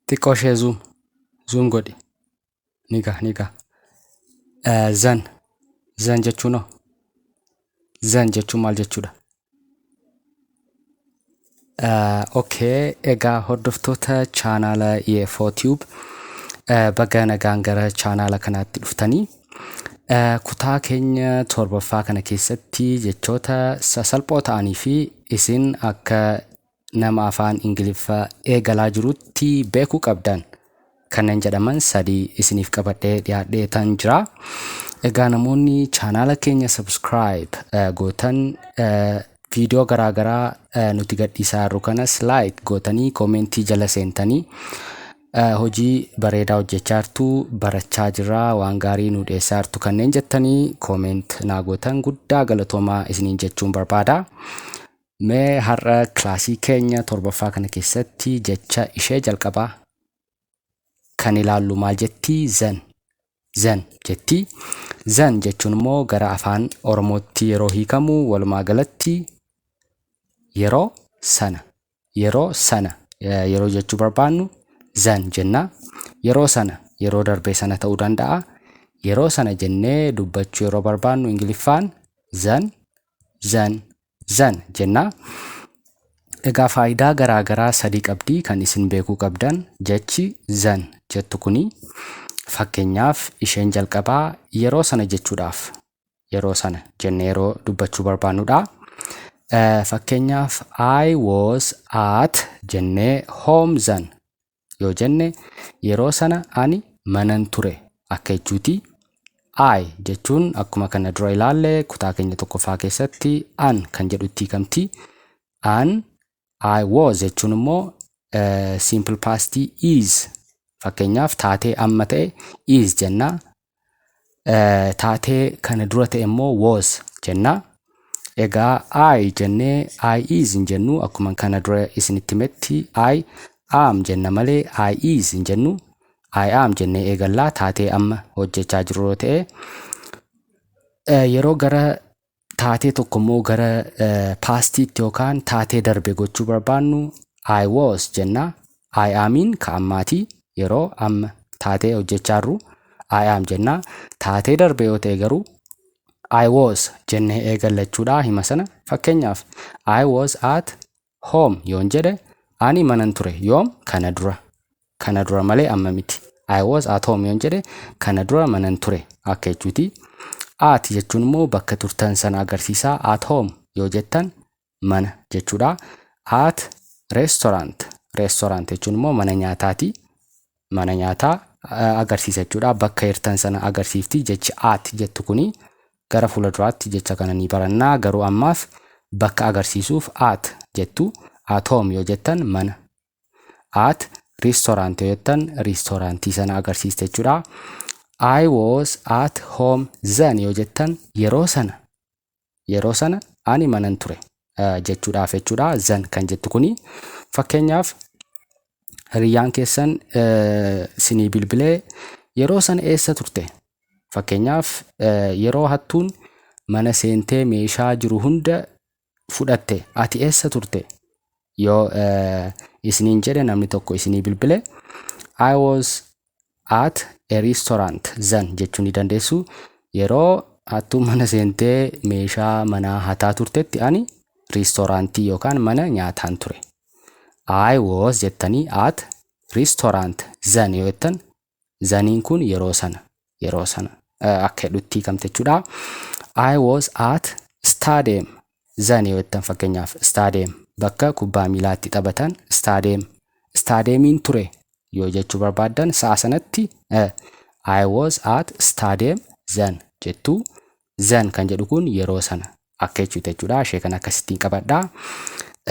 xiqqoo ishee zoom zoom godhi ni ga ni ga Eh, zan zan jechuun hoo zan jechuun maal jechuudha Eh, okay egaa hordoftoota chaanaala EFO Tube eh, baga nagaan gara chaanaala kanaatti dhuftanii Eh, kutaa keenya torbaffaa kana keessatti jechoota sasalphoo ta'anii fi isin akka nama afaan ingiliffa eegalaa jirutti beekuu qabdan kanneen jedhaman sadii isiniif qabadhee dhiyaadhee tan jira egaa namoonni chaanaala keenya subscribe eh, gootan eh, viidiyoo garaa garaa eh, nuti gadhiisaa jirru kanas like gootanii koomentii jala seentanii eh, hojii bareedaa hojjechaa jirtu barachaa jirra waan gaarii nu dhiyeessaa jirtu kanneen jettanii kooment naa gootan guddaa galatoomaa isiniin jechuun barbaada Mee har'a kilaasii keenya torbaffaa kana keessatti jecha ishee jalqabaa kan ilaallu maal jettii zan zan jettii zan jechuun immoo gara afaan oromootti yeroo hiikamu walumaa galatti yeroo sana yeroo sana eh, yeroo jechuu barbaannu zan jenna yeroo sana yeroo darbee sana ta'uu danda'a yeroo sana jennee dubbachuu yeroo barbaannu ingiliffaan zan zan zan jenna. Egaa faayidaa garaa garaa sadii qabdi kan isin beekuu qabdan jechi zan jettu kuni fakkeenyaaf isheen jalqabaa yeroo sana jechuudhaaf yeroo sana jennee yeroo dubbachuu barbaannudha. Fakkeenyaaf I was at jennee home zan yoo jenne yeroo sana ani manan ture akka jechuuti. I jechuun akkuma kana dura ilaalle kutaa keenya tokkoffaa keessatti an kan jedhutti hiikamti. An I was jechuun immoo simple past is fakkeenyaaf taatee amma ta'e is jenna taatee kana dura ta'e immoo was jenna. Egaa I jennee I is hin jennu akkuma kana dura isinitti himetti I am jenna malee I is hin jennu. I am jennee eegallaa taatee amma hojjechaa jirru yoo ta'e yeroo gara taatee tokko immoo gara paastiitti yookaan taatee darbe gochuu barbaannu I was jenna. I amiin ka ammaati yeroo amma taatee hojjechaa jirru I am jenna. Taatee darbe yoo ta'e garuu I was jennee eegalla jechuudha hima sana. Fakkeenyaaf I was at Home yoon jedhe ani manan ture yoom kana dura kana dura malee amma miti I was at home yoon jedhe kana dura manan ture akka jechuuti at jechuun immoo bakka turtan sana agarsiisaa at home yoo jettan mana jechuudha at restaurant restaurant jechuun immoo mana nyaataati mana nyaataa agarsiisa jechuudha. Bakka hirtan sana agarsiifti jechi at jettu kuni gara fuula duraatti jecha kana ni baranna garuu ammaaf bakka agarsiisuuf at jettu at home yoo jettan mana at restaurant yoo jettan restaurantii sana agarsiista jechuudha. I was at home then yoo jettan yeroo sana yeroo sana ani manan ture jechuudhaaf jechuudha zan kan jettu kuni fakkeenyaaf hiriyyaan keessan sinii bilbilee yeroo sana eessa turte fakkeenyaaf yeroo hattuun mana seentee meeshaa jiru hunda fudhatte ati eessa turte yoo isiniin jedhe namni tokko isinii bilbile I was at a restaurant zan jechuu ni dandeessu yeroo hattuu mana seentee meeshaa manaa hataa turtetti ani riistooraantii yookaan mana nyaataan ture I was jettanii at restaurant zan yoo jettan zaniin kun yeroo sana yeroo sana akka jedhutti kamte jechuudha I was at stadium zan yoo jettan fakkeenyaaf stadium bakka kubbaa miilaa itti taphatan stadium stadiumiin ture yoo jechuu barbaaddan sa'a sanatti eh, I was at stadium zan jettu zan kan jedhu kun yeroo sana akka jechuuta jechuudha ishee kan akkasittiin qabadha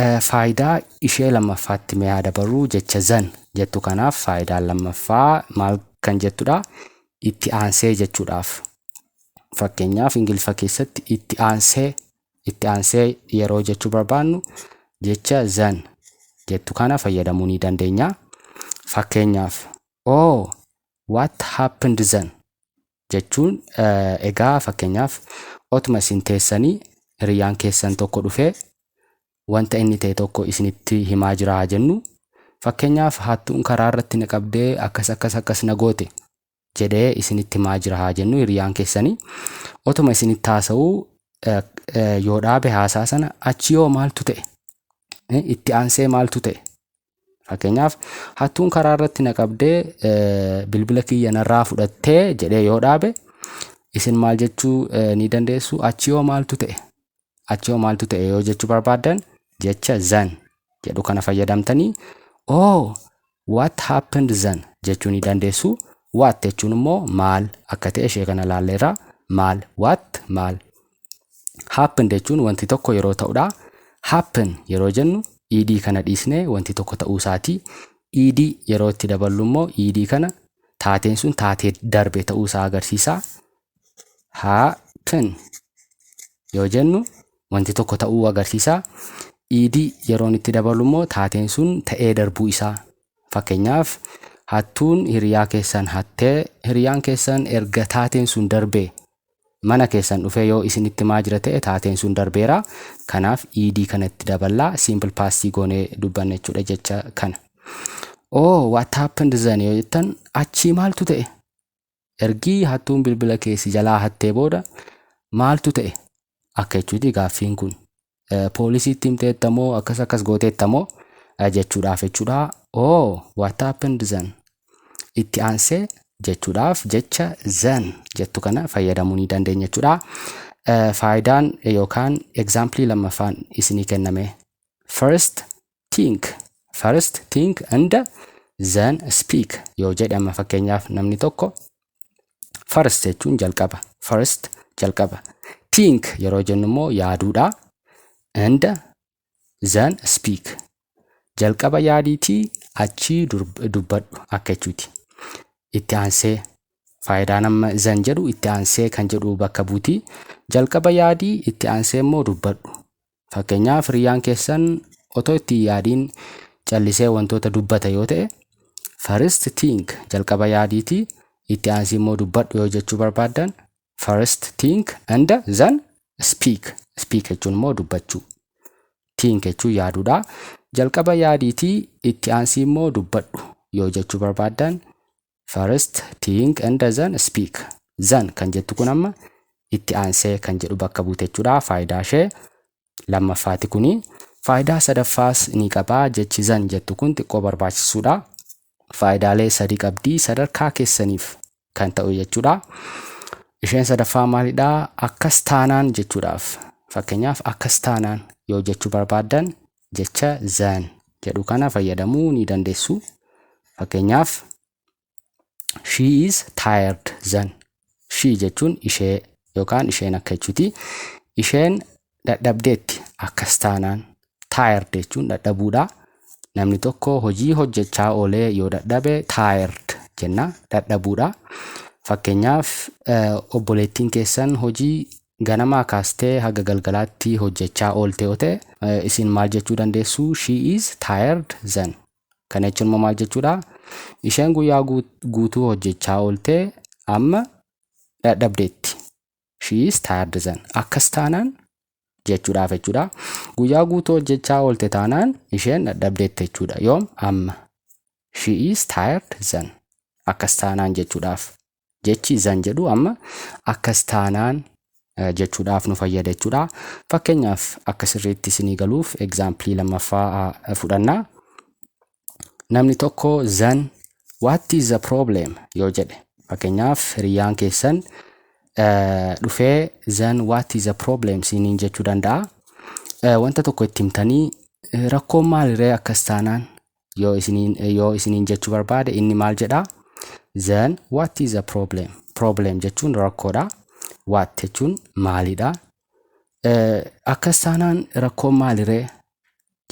Eh, faayidaa ishee lammaffaatti mee haa dabarru jecha zan jettu kanaaf faayidaan lammaffaa maal kan jettudha itti aansee jechuudhaaf Fakkeenyaaf Ingiliffa keessatti itti aansee itti aansee yeroo jechuu barbaannu jecha zan jettu kana fayyadamuu ni dandeenya. Fakkeenyaaf oh what happened zan jechuun eh, egaa fakkeenyaaf otuma isin teessanii hiriyyaan keessan tokko dhufee wanta inni ta'e tokko isinitti himaa jira haa jennu. Fakkeenyaaf hattuun karaa irratti na qabdee akkas akkas akkas na goote jedhee isinitti himaa jira haa jennu hiriyaan keessanii otuma isinitti haasa'uu yoo dhaabe haasaa sana achi yoo maaltu ta'e itti aansee maaltu ta'e fakkeenyaaf hattuun karaa irratti na qabdee bilbila kiyya narraa fudhattee jedhee yoo dhaabe isin maal jechuu ni dandeessu achi yoo maaltu ta'e Achi hoo maaltu ta'e yoo jechuu barbaaddan jecha zan jedhu kana fayyadamtanii oh what happened zan jechuu ni dandeessu. What jechuun immoo maal akka ta'e ishee kana laalleerra. Maal what maal. Happen jechuun wanti tokko yeroo ta'udha. Happen yeroo jennu ed kana dhiisnee wanti tokko ta'uu isaati. Ed yeroo itti daballu immoo ed kana taateen sun taatee darbe ta'uu isaa agarsiisa. haa kennu yoo jennu wanti tokko ta'uu agarsiisa. Iidii yeroon itti dabalu immoo taateen sun ta'ee darbuu isaa. Fakkeenyaaf hattuun hiriyaa keessan hattee hiriyaan keessan erga taateen sun darbee mana keessan dhufee yoo isinitti maa jira ta'e taateen sun darbeera. Kanaaf iidii kana itti daballaa simple past goonee dubbanna jechuudha jecha kana. Oh what happened then yoo jettan achii maaltu ta'e? Ergii hattuun bilbila kee si jalaa hattee booda maaltu ta'e akka jechuuti gaaffiin kun. Poolisiitti himteetta moo akkas akkas gooteetta moo jechuudhaaf jechuudha. Oh what happened then? Itti aansee jechuudhaaf jecha then jettu kana fayyadamuu ni dandeenya jechuudha. Faayidaan yookaan egzaampilii lammaffaan isinii kenname first think first think and then speak yoo jedhama fakkeenyaaf namni tokko first jechuun jalqaba first jalqaba think yeroo jennu immoo yaaduudha and then speak jalqaba yaadiitii achii dubbadhu akka jechuuti itti aansee faayidaan amma zan jedhu itti aansee kan jedhu bakka buutii jalqaba yaadii itti aansee immoo dubbadhu Fakkeenyaaf hiriyyaan keessan otoo itti hin yaadiin callisee wantoota dubbata yoo ta'e first think jalqaba yaadiiti itti aansi immoo dubbadhu yoo jechuu barbaaddan first think and then speak speak jechuun immoo dubbachuu think jechuun yaaduudha jalqaba yaadiiti itti aansi immoo dubbadhu yoo jechuu barbaaddan First think and then speak. Zan kan jettu kun amma itti aansee kan jedhu bakka buute jechuudha. Faayidaa ishee lammaffaati kuni. Faayidaa sadaffaas ni qaba. Jechi zan jettu kun xiqqoo barbaachisuudha. Faayidaalee sadii qabdi. Sadarkaa keessaniif kan ta'u jechuudha. Isheen sadaffaa maalidha? Akkas taanaan jechuudhaaf. Fakkeenyaaf akkas taanaan yoo jechuu barbaaddan jecha then jedhu kana fayyadamuu ni dandeessu. Fakkeenyaaf she is tired then she jechuun ishee yookaan isheen akka jechuuti. Isheen dadhabdeetti akkas taanaan tired jechuun dadhabuudha. Namni tokko hojii hojjechaa oolee yoo dadhabe tired jenna dadhabuudha. Fakkeenyaaf obboleettiin keessan hojii Ganamaa kaastee haga galgalaatti hojjechaa oolte yoo ta'e, isin maal jechuu dandeessu? She is tired then. Kana jechuun immoo maal jechuudha? Isheen guyyaa guutuu hojjechaa oolte amma dadhabdeetti. She is tired then. Akkas taanaan jechuudhaaf jechuudha. Guyyaa guutuu hojjechaa oolte taanaan isheen dadhabdeetti jechuudha. Yoom? Amma. She is tired then. Akkas taanaan jechuudhaaf. Jechi izan jedhu amma akkas taanaan eh, jechuudhaaf nu fayyada jechuudha. Fakkeenyaaf akka sirriitti isinii galuuf egzaampilii lammaffaa ah, fudhanna. Namni tokko zan what is the problem yoo jedhe fakkeenyaaf hiriyyaan keessan eh, dhufee zan what is the problem siiniin jechuu danda'a. Eh, Wanta tokko itti himtanii eh, rakkoon maaliree akkas taanaan yoo isiniin yoo isiniin jechuu barbaade inni maal jedha then what is a problem problem jechuun rakkoodha what jechuun maalidha Eh, akkas taanaan rakkoon maaliree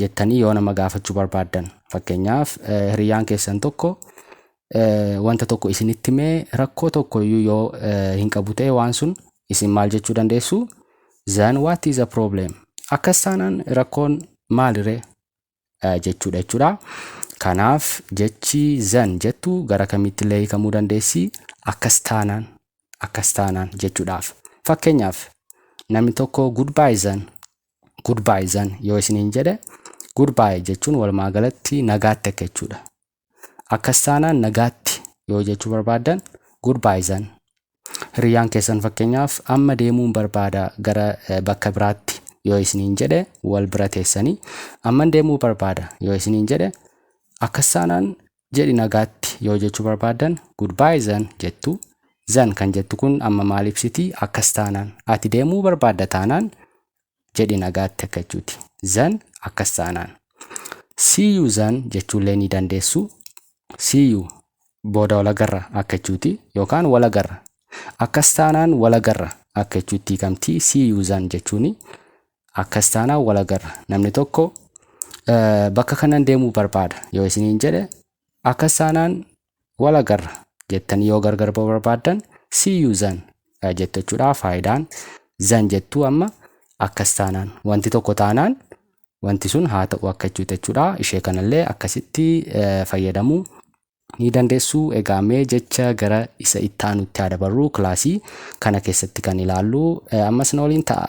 jettanii yoo nama gaafachuu barbaaddan fakkeenyaaf eh, hiriyyaan keessan tokko eh, wanta tokko isinitti mee rakkoo tokko iyyuu yoo eh, hin qabu ta'e waan sun isin maal jechuu dandeessu then what is a problem akkas taanaan rakkoon maaliree eh, jechuudha jechuudha. Kanaaf jechi zan jettu gara kamitti illee hiikamuu dandeessi. Akkas taanaan akkas taanaan jechuudhaaf. Fakkeenyaaf namni tokko goodbye zan goodbye zan yoo isiniin jedhe goodbye jechuun walumaa galatti nagaatti akka jechuudha. Akkas taanaan nagaatti yoo jechuu barbaaddan goodbye zan. Hiriyyaan keessan fakkeenyaaf amma deemuun barbaada gara eh, bakka biraatti yoo isiniin jedhe wal bira teessanii amman deemuu barbaada yoo isiniin jedhe akkas taanaan jedhi nagaatti yoo jechuu barbaaddan goodbye zan jettu. Zan kan jettu kun amma maal ibsiti? Akkas taanaan ati deemuu barbaadda taanaan jedhi nagaatti akka jechuuti. Zan akkas taanaan. See you zan jechuullee ni dandeessu. See you booda walagarra akka jechuuti yookaan walagarra. Akkas taanaan walagarra akka jechuutti hiikamti. See you zan jechuuni akkas taanaan walagarra. Namni tokko bakka kanan deemuu barbaada yoo isiniin jedhe akkas taanaan Wal agarra jettanii yoo gargar ba'uu barbaaddan see you zan eh, jettu jechuudha. Faayidaan zan jettuu amma akkas taanaan wanti tokko taanaan wanti sun haa ta'u akka jechuuti jechuudha. Ishee kanallee akkasitti eh, fayyadamuu ni dandeessu. Egaa mee jecha gara isa itti aanutti haa dabarru kilaasii kana keessatti kan ilaallu eh, ammas na waliin ta'a.